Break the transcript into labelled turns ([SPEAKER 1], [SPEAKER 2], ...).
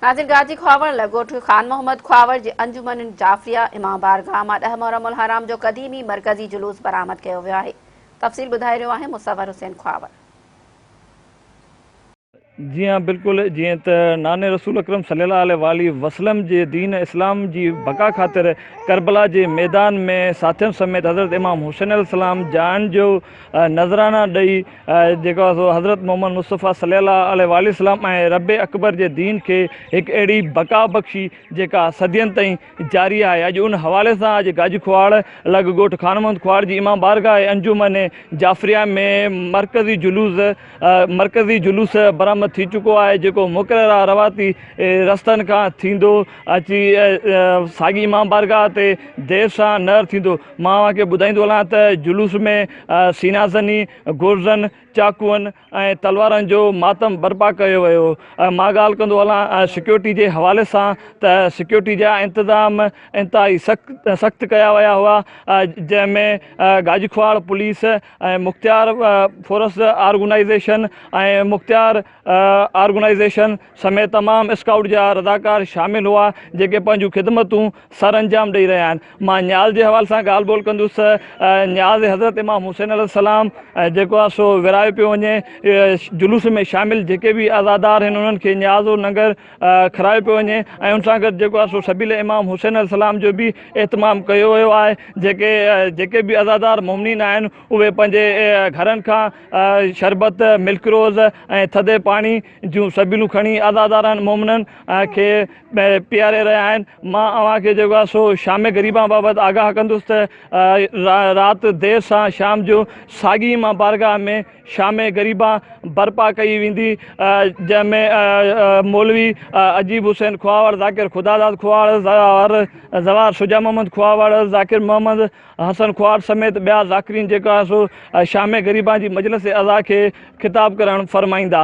[SPEAKER 1] ناظر گاجي کهاوڙ لڳوٽ خان محمد کهاوڙ جي انجمن جعفريه امام بارگاهه مان ڏهه محرم الحرام جو قديمي مرڪزي جلوس برآمد ڪيو ويو آهي تفصيل ٻڌائي رهيو آهي مصور حسين کهاوڙ.
[SPEAKER 2] جي ها بلڪل جيئن ته نانء رسول اڪرم صلي الله عليه واٰله وسلم جي دين اسلام جي بقا خاطر ڪربلا جي ميدان ۾ ساٿين سميت حضرت امام حسين عليه السلام جاڻ جو نذرانا ڏئي جيڪو آهي سو حضرت محمد مصطفيٰ صلي الله عليه واٰله وسلم ۽ رب اڪبر جي دين کي هڪ اهڙي بقا بخشي جيڪا صدين تائين جاري آهي اڄ ان حوالي سان اڄ گاجي کهواڙ لڳ ڳوٺ خان محمد کهواڙ جي امام بارگاهه انجمن جعفريه ۾ مرڪزي جلوس مرڪزي جلوس برآمد ٿي چڪو آهي جيڪو مقرره رواتي رستن کان ٿيندو اچي ساڳي امام بارگاهه تي دير شاهه نهر ٿيندو مان اوهان کي ٻڌائيندو هلان ته جلوس ۾ سينا زني، گرزن، چاقون ۽ تلوارن جو ماتم برپا ڪيو ويو. مان ڳالهه ڪندو هلان سيڪيورٽي جي حوالي سان ته سيڪيورٽي جا انتظام انتهائي سخت ڪيا ويا هئا جنهن ۾ گاجخواڙ police ۽ Mukhtiar force organization ۽ Mukhtiar organization سميت تمام اسڪائوٽ جا رضاڪار شامل هئا جيڪي پنهنجون خدمتون سر انجام ڏئي رهيا آهن مان نياز جي حوالي سان ڳالهه ٻولهه ڪندس نياز حضرت امام حسين عليه السلام جيڪو آهي سو ورهايو پيو وڃي جلوس ۾ شامل جيڪي به عزادار آهن انهن کي نياز و ننگر کرايو پيو وڃي ۽ ان سان گڏ جيڪو آهي سو سبيل امام حسين عليه السلام جو به اهتمام ڪيو ويو آهي جيڪي جيڪي به عزادار مؤمنين آهن اهي پنهنجي گهرن کان شربت ملڪ روز ۽ ٿڌي پاڻي جون سبيلون کڻي عزادارن، مومنن، کي پياري رهيا آهن. مان اوهان کي جيڪو آهي سو شام غريبان بابت آگاهه ڪندس ته رات دير سان شام جو ساڳي ايمان بارگاهه ۾ شام غريبان برپا ڪئي ويندي جنهن ۾ مولوي عجيب حسين کهاوڙ، ذاڪر خداداد کهاوڙ، زوار شجاع محمد کهاوڙ، ذاڪر محمد حسن کهاوڙ سميت ٻيا ذاڪرين جيڪو آهي سو شام غريبان جي مجلس عزا کي خطاب ڪرڻ فرمائيندا.